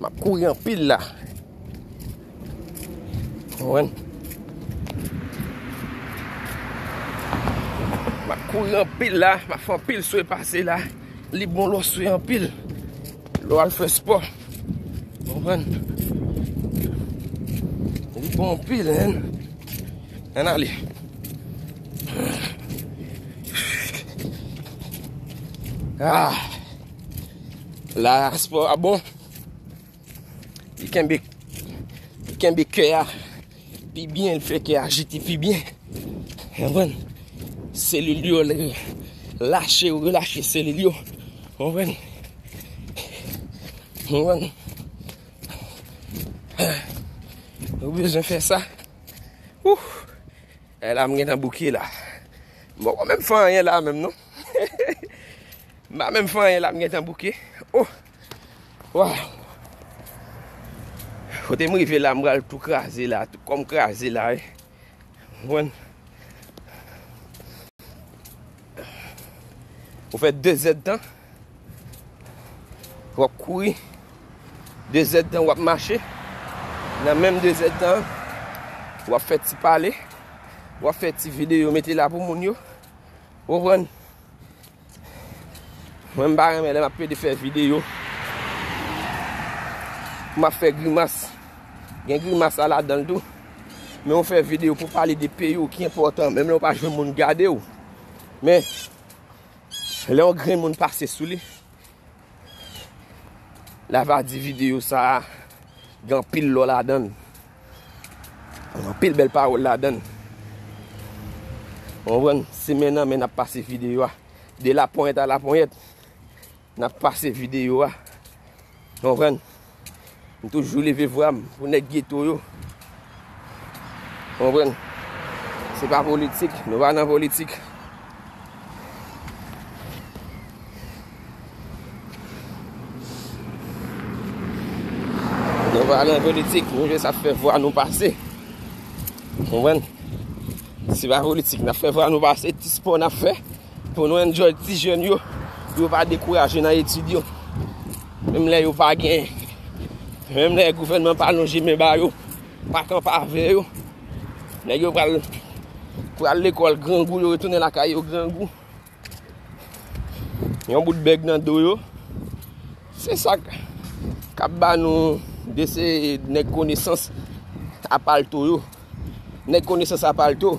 Map kouri anpil la. Map kouri anpil la. Map fè anpil swe pase la. Li bon lò swe anpil. Lò al fè spò. Anpwen. Li bon anpil en. En ale. Aah. La aspò a bon Li kenbe Li kenbe kè a Pi byen l fè kè a jete pi byen Anpwen Selil yo l Lache ou relache selil yo Anpwen Anpwen Ou bezwen fè sa Ouh E la m gen nan bouke la M poko menm fè anyen la menm non Hehehe M pa menm fè anyen la m gentan bouke oh waww Kote m rive la m pral tou kraze la tout kòm kraze la wi ou konprann Ou fè 2 zèd tan wap kouri 2 zèd tan wap mache nan menm 2 zèd tan wap fè ti pale wap fè ti videyo mete la pou moun yo ou konprann Mwen m pa renmen lè m ap pede fè videyo. M ap fè grimas. Gen grimas a ladan l tou. Men ou fè videyo pou pale de peyi ou ki enpòtan. Menm lè ou pa jwenn moun gade ou. Men, lè yon grenn moun pase sou li. La va di video sa a gen anpil lò ladan l. Gen anpil bèl pawòl ladan l. Ou konprann? Se men nan men n ap pase video a. De laponyèt a laponyèt, n ap pase video a. Ou konprann? M toujou leve vwa m pou nèg geto yo. Konprann? Se pa politik, nou pa nan politik. Nou pa nan politik, nou jis ap fè vwa nou pase. Konprann? Se pa politik, n ap fè vwa nou pase, ti spò n ap fè. Pou nou enjoy ti jèn yo, pou yo pa dekouraje nan etid yo. Menm lè yo pa gen, menm lè gouvènman pa lonje men ba yo, pa kanpe avè yo. Nèg yo pral, pral lekòl grangou, yo retounen lakay yo grangou. Yon bout bèg nan do yo. Se sa k, k'ap ba nou de se nèg konesans a palto yo. Nèg konesans a palto,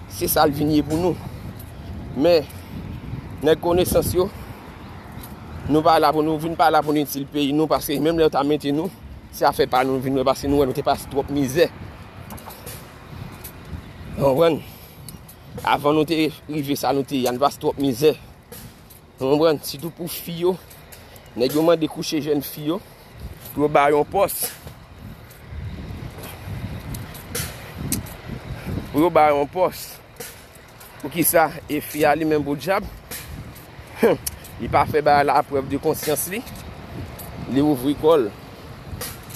se sa l vin ye pou nou. Men, nèg konesans yo, nou pa la pou nou vin pa la pou nou itil peyi nou, paske menm lè yo ta mete nou, se afè pa nou vin wè, paske nou wè nou te pase twòp mizè. Konprann? Avan nou te rive sa nou te ye a, nou te pase twòp mizè. Ou konprann? Sitou pou fi yo, nèg yo mande kouche jèn fi yo, pou yo ba yo yon pòs. Pou yo ba yo yon pòs. Pou ki sa? E fi a li menm pou djab? Hum! Li pa fè bagay la a prèv de konsyans li. Li ouvri kò l.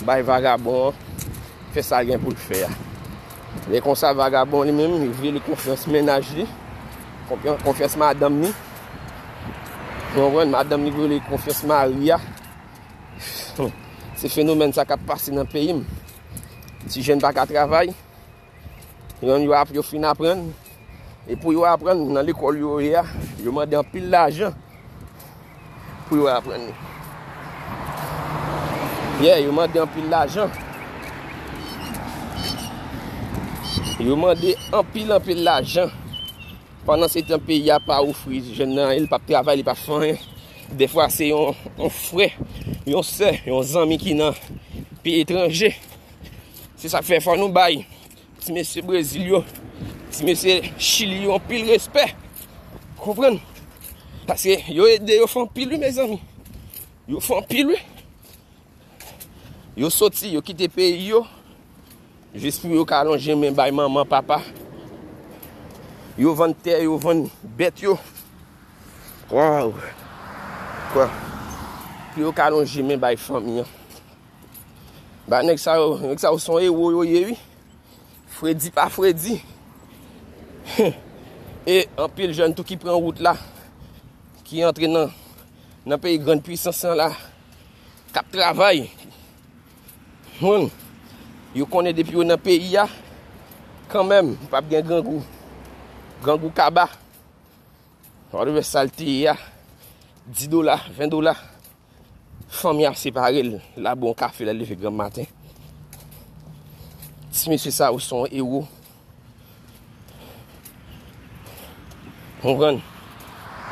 Bay vagabon an, fè sa gen pou l fè a. Lè konsa vagabon li menm, li vle li konfyans mennaj li, konfyans madanm li. Ou konprann? Madanm li vole konfyans mari a. Se fenomèn sa k ap pase nan peyi m. Ti jèn pa ka travay. Yon yo ap yo fin aprann. E pou yo aprann nan lekòl yo ye a, yo mande anpil lajan pou yo aprann li. Ye, yo mande anpil lajan. Yo mande anpil anpil lajan. Pandan se tan peyi a pa ofri jèn nan anyen, li pap travay, li pap fè anyen. Dèfwa se yon frè, yon sè, yon zanmi ki nan peyi etranje. Se sa k fè fò nou bay ti mesye Brezil yo, ti mesye Chili yo anpil respè. Konprann? Paske yo ede yo fè anpil wi mezanmi. Yo fè anpil wi. Yo soti, yo kite peyi yo. Jis pou yo ka lonje men bay manman, papa. Yo vann tè yo, vann bèt yo. Waw! Waw! Pou yo ka lonje men bay fanmi an. Ba nèg sa yo, nèg sa yo son ewo yo ye wi. Fredi pa fredi. E anpil jèn tou ki pran wout la, ki antre nan peyi grand puissance la, kap travay. Humm yo konnen depi yo nan peyi ya kanmenm pap gen grangou grangou kaba wap wè sal te ye ya 10 dola 20 dola fanm ya separe l la bon kafe la leve granm maten ti mesye sa yo son ewo. Mwen pran.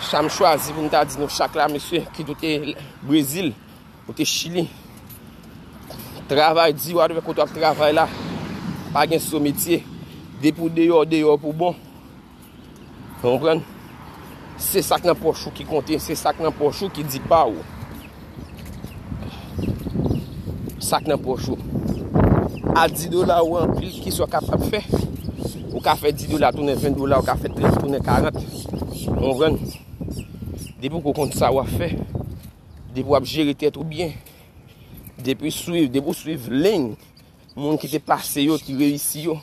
Sa m chwazi pou m ta di nou chak la mesye ki dote Brezil, dote Chili. Travay di wadwe koto ap travay la. Pa gen sou metye. Depi ou deyò, deyò pou bon. Ou konprann? Se sak nan pòch ou ki konte, se sak nan pòch ou ki di pa ou. Sak nan pòch ou. A 10 dola ou anpil, ki sa ou kapab fè? Ou ka fè 10 dola tounen 20 dola, ou ka fè 30 tounen 40. Ou konprann? Depi ou konn sa ou a fè, depi ou ap jere tèt ou byen, depi ou swiv, depi ou swiv leny. Moun ki te pase yo ki reyisi yo.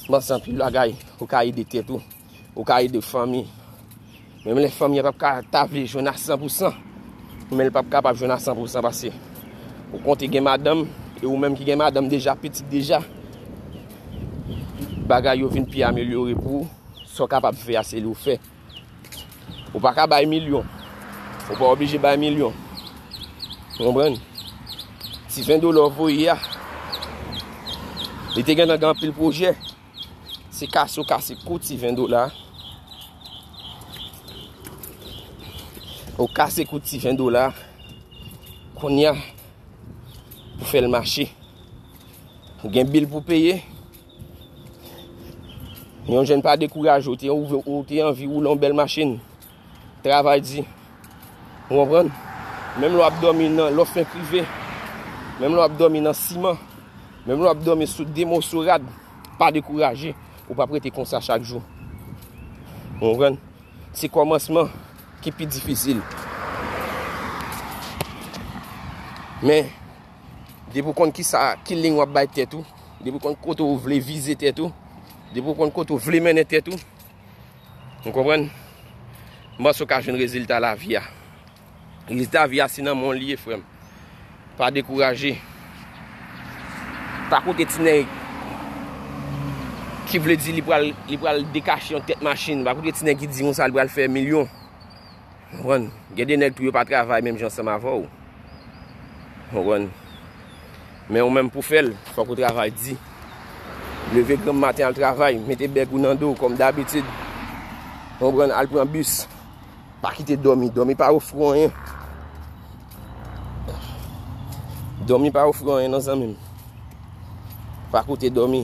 Mpanse anpil bagay ou ka ede tèt ou, ou ka ede fanmi. Menm lè fanmi a pap ka ta vle jwenn a 100 pou 100, men li pap kapab jwenn a 100 pou 100 pase ou konte gen madanm e ou menm ki gen madanm deja, pitit deja. Bagay yo vin pi amelyore pou ou, sa w kapab fè a se li w fè. Ou pa ka bay milyon. Ou pa oblije bay milyon. Ou konpren? Ti 20 dola ou voye ya. Li te gen nan gen pil pwojè. Se kase ou kase kou ti 20 dola. Ou kase kou ti 20 dola. Konya pou fèl mache. Ou gen bil pou peye. Ou konpren? Yon jen pa dekouraje ou te ou te anvi ou lon bel machin. Travay di. Ou anpran? Menm lò ap domi nan lò fè prive. Menm lò ap domi nan siman. Menm lò ap domi sou demo sou rad. Pa dekouraje. Ou pa prete konsa chak jou. Ou anpran? Se komansman ki pi difisil. Men. Depi ou konn kisa, ki liy wap bay tèt ou, depi ou konn kote ou vle vize tèt ou, depi ou konn kote ou vle mennen tèt ou, ou konprann? Mwen panse ou ka jwenn rezilta lavi a. Rezilta lavi a se nan men w li ye frè m. Pa dekouraje. Pa koute ti nèg ki vle di li pral dekache yon tèt machin. Pa koute ti nèg ki di konsa li pral fè milyon. Ou konprann? Gen de nèg tou yo pa travay menm jan ansanm avè w. Ou konprann? Men ou menm pou w fè l, fòk ou travay di. Leve granm maten al travay, mete bèg ou nan do w kòm dabitid. Ou konprann? Al pran bis. Pa kite dòmi. Dòmi pa ofri w anyen. Dòmi pa ofri w anyen non zanmi m. Pa koute dòmi.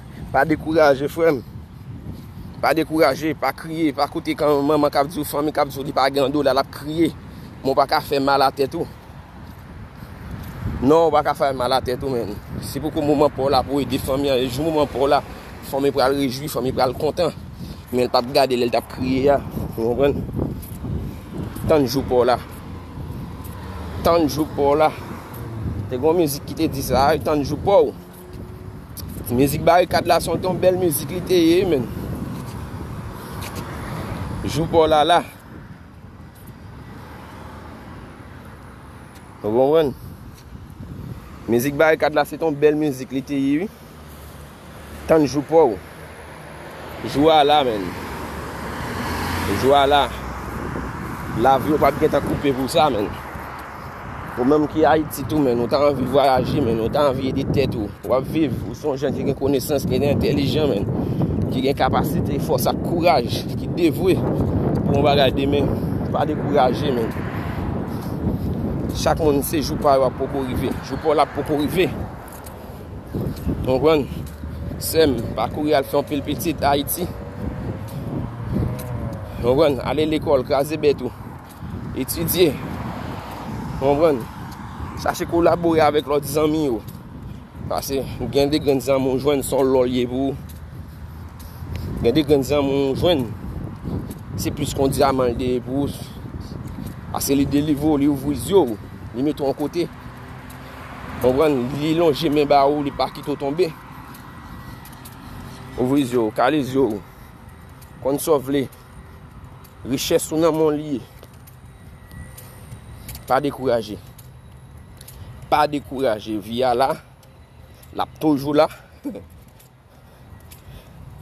Pa dekouraje frè m. Pa dekouraje, pa kriye, pa koute kan manman k ap di w, fanmi k ap di w li pa gen yon dola l ap kriye. Men w pa ka fè mal a tèt ou. Non, w pa ka fè mal a tèt ou men. Se poko moman pa w la pou w ede fanmi an. E jou moman pa w la, fanmi pral rejwi, fanmi pral kontan. Men l pa p gade lè l t ap kriye a. Ou konprann? Tann jou pa w la. Tann jou pa w la. Te gen yon mizik ki te di sa a, tann jou pa w. Mizik barikad la son ton bèl mizik li te ye men. Jou paw la la. Ou konprann? Mizik barikad la se ton bèl mizik li te ye. Tann jou paw. Jou a la menn. Jou a la. Lavi yo pat gentan koupe pou sa menn. Ou menm ki Ayiti tou menn, ou ta anvi vwayaje menn, ou ta anvi ede tèt ou. Ou ap viv, ou son jen ki gen konesans, ki gen entelijan menn. Ki gen kapasite, fòs ak kouraj, ki devwe pou yon bagay demen. Pa dekouraje menn. Chak moun se jou pa yo ap poko rive. Jou pa w la ap poko rive. Ou konprann? Sè m, pa kouri al fè yon pil pitit Ayiti. Ou konprann? Ale lekòl, kraze bèt ou. Etidye. Ou konprann? Chache kolabore avèk lòt zanmi yo. Pase, gen de grenn zanmi ou jwenn son lò l ye pou ou. Gen de grenn zanmi ou jwenn, se plis kon dyaman l te ye pou ou. Pase li delivre ou, li ouvri zye ou, li mete ou an kote. Konprann? Li lonje men ba ou, li pa kite ou tonbe. Ouvri zye ou, kale zye ou. Konn sa w vle. Richès ou nan men w li ye. Pa dekouraje. Pa dekouraje. Vi a la. L ap toujou la.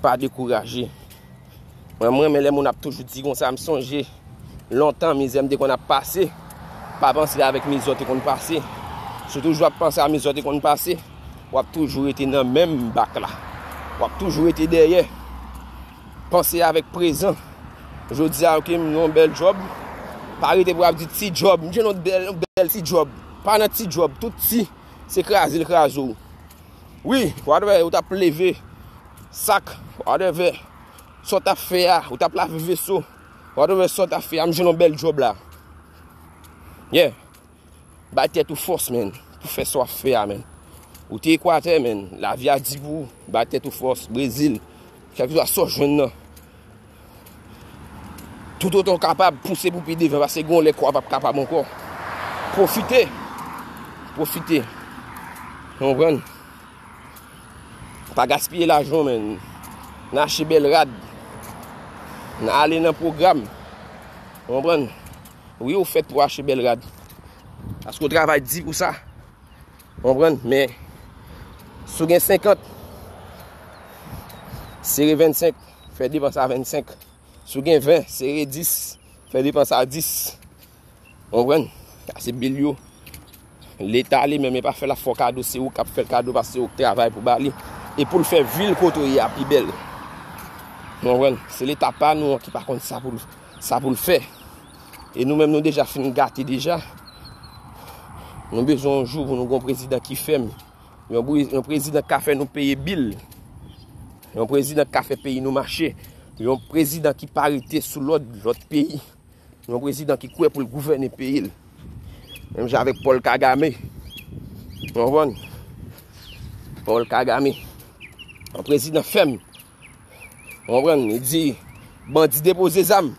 Pa dekouraje. Mwen m renmen lè moun ap toujou di konsa m sonje lontan mizè m te konn ap pase pa panse avèk mizè w te konn pase sou toujou ap panse avèk mizè w te konn pase w ap toujou rete nan menm bak la w ap toujou rete dèyè panse avèk prezan jodi a ok m gen yon bèl job pa rete pou ap di ti job m gen yon bèl ti job pa nan ti job tout ti se kraze l kraze w Wi, w'ap wè, ou t'ap leve sak, w'ap wè sa w' t'ap fè a, ou t'ap lave veso, w'ap wè sa w' t'ap fè a, m' jwenn yon bèl djòb la. Yeah, bay tèt ou fòs men, pou fè sa w'ap fè a men. Ou te Ekwatè men, lavi a di pou ou, bay tèt ou fòs, Brezil, kèlkeswa sa w' jwenn nan, Toutotan w kapab, pouse pou pi devan, pase gon lè kò a pap kapab ankò. Pwofite, pwofite. Konprann? Pa gaspiye lajan w men. Nan achte bèl rad. Nan ale nan pwogram. Konprann? Wi ou fèt pou achte bèl rad. Paske ou travay di pou sa. Konprann? Men, sou gen 50, sere 25. Fè depans a 25. Si w gen 20, sere 10. Fè depans a 10. Ou konprann? Sa se bil yo. Leta li menm e pa fè la fò kado se ou k ap fè l kado paske se ou k travay pou ba li. E pou l fè vil kote ou ye a pi bèl. Ou konprann? Se leta pa nou an ki pa konn sa pou l, sa pou l fè. E nou menm nou deja fin gate deja. Nou bezwen yon jou pou nou gen yon prezidan ki fèm. Yon prezidan ka fè nou peye bil. Yon prezidan ka fè peyi nou mache. Yon prezidan ki pa rete sou lòd lòt peyi. Yon prezidan ki kwe pou l gouvene peyi l. Menm jan avèk Paul Kagame. Yon van. Paul Kagame. Yon prezidan fèm. Ou konprann? Li di, bandi depoze zam,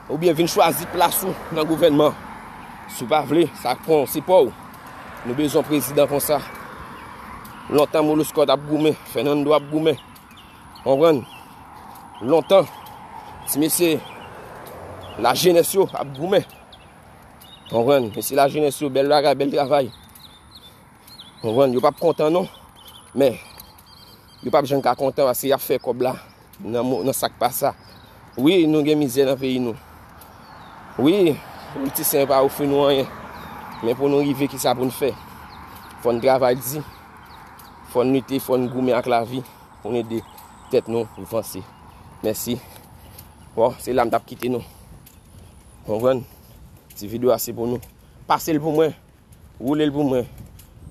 ou byen vin chwazi plas ou nan gouvènman. Si ou pa vle, sa k pran se pa ou. Nou bezon prezidan konsa. Lontan Moloskot ap goumen, Fènando ap goumen. Ou konprann? Lontan, ti mesye, la jenès yo ap goumen. Ou konprann? Mesye la jenès yo, bèl bagay, bèl travay. Konprann? Yo pap kontan non. Men, yo pap jann ka kontan paske yap fè kòb la nan sa k pa sa. Wi, nou gen mizè nan peyi nou. Wi, politisyen yo pa ofri nou anyen. Men pou nou rive ki sa pou nou fè. Fò nou travay di. Fò nou lite, fò nou goumen ak lavi. Pou nou ede tèt nou vanse. Mèsi. Bon, se la m tap kite nou. Konprann? Ti video a se pou nou. Pase l pou mwen. Roulel pou mwen.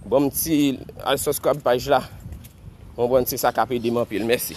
Banm ti al subscribe paj la. Konprann se sa kap edem anpil. Mèsi.